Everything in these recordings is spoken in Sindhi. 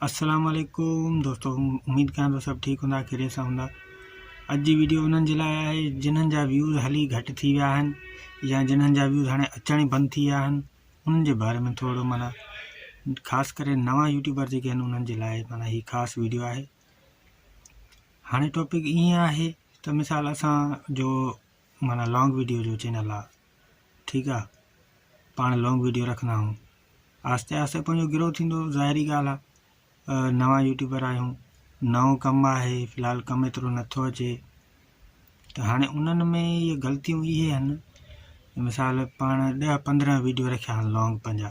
السلام عليڪم دوستو اميد ڪيان ٿو سڀ ٺيڪ هوندا خيريت سان هوندا اڄ جي ويڊيو انهن جي لاء آهي جنهن جا ويوز هلي گهٽ ٿي ويا آهن يا جنهن جا ويوز هاڻي اچڻ ئي بند ٿي ويا آهن انهن جي باري ۾ ٿورو مانا خاص ڪري نوان يوٽيوبر جيڪي آهن انهن جي لاء مانا هي خاص ويڊيو آهي هاڻي ٽاپڪ ائين آهي ته مثال اسان جو معنيٰ لانگ ويڊيو جو چينل آ ٺيڪ آ پاڻ لانگ ويڊيو رکندا آھيون آھستي آھستي پنھنجو گروھ ٿيندو ظاھري ڳالھ آ نوان يوٽيوبر آھيون نئون ڪم آھي في الحال ڪم ايترو نٿو اچي ته ھاڻي انھن ۾ اھي غلطيون اھي آھن مثال پاڻ ڏھ پندرھن ويڊيو رکيا آھن لانگ پنھنجا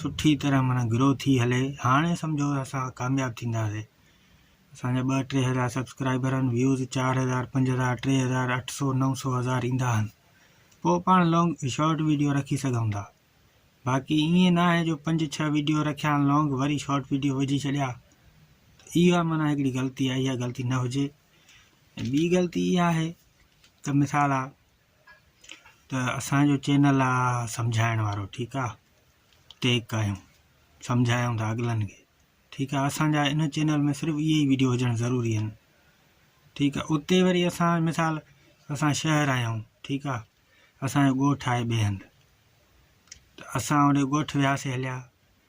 سٺي طرح معنيٰ گرو ٿي هلي هاڻي سمجهو اسان ڪامياب ٿينداسين اسان جا ٻه ٽي هزار سبسڪرائبر آهن ويوز چار هزار پنج هزار ٽي هزار اٺ سو نو سو هزار ايندا آهن پوء پاڻ لانگ شارٽ ويڊيو رکي سگهون ٿا باقي ائين نه آهي جو پنج ڇهه ويڊيو رکيا آهن لانگ وري شارٽ ويڊيو وجهي ڇڏيا اها معنيٰ هڪڙي غلطي آهي اها غلطي نه هجي ۽ ٻي غلطي اها آهي ته مثال آ ته اسان جو چينل آ سمجهائڻ وارو ٺيڪ آ ٽيگ ڪايون سمجهايون ٿا اڳلن کي ٺيڪ آ اسان جا ان چينل ۾ صرف اهي ئي ويڊيو هجڻ ضروري آهن ٺيڪ آ اتي وري اسان مثال اسان شهر آهيون ٺيڪ آ اسان جو ڳوٺ آهي ٻئي هنڌ ته اسان هن ڳوٺ وياسي هليا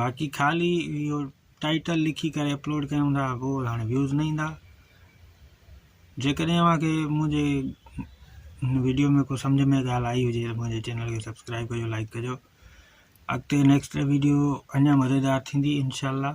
باقي خالي اهو ٽائيٽل لکي ڪري اپلوڊ ڪيون ٿا پوء هاڻي ويوز نه ايندا جيڪڏهن اوهان کي منهنجي هن ويڊيو ۾ ڪو سمجھ ۾ ڳالهه آئي هجي ته منهنجي چينل کي سبسڪرائب ڪجو لائڪ ڪجو اڳتي نيڪسٽ ويڊيو اڃا مزيدار ٿيندي انشاء الله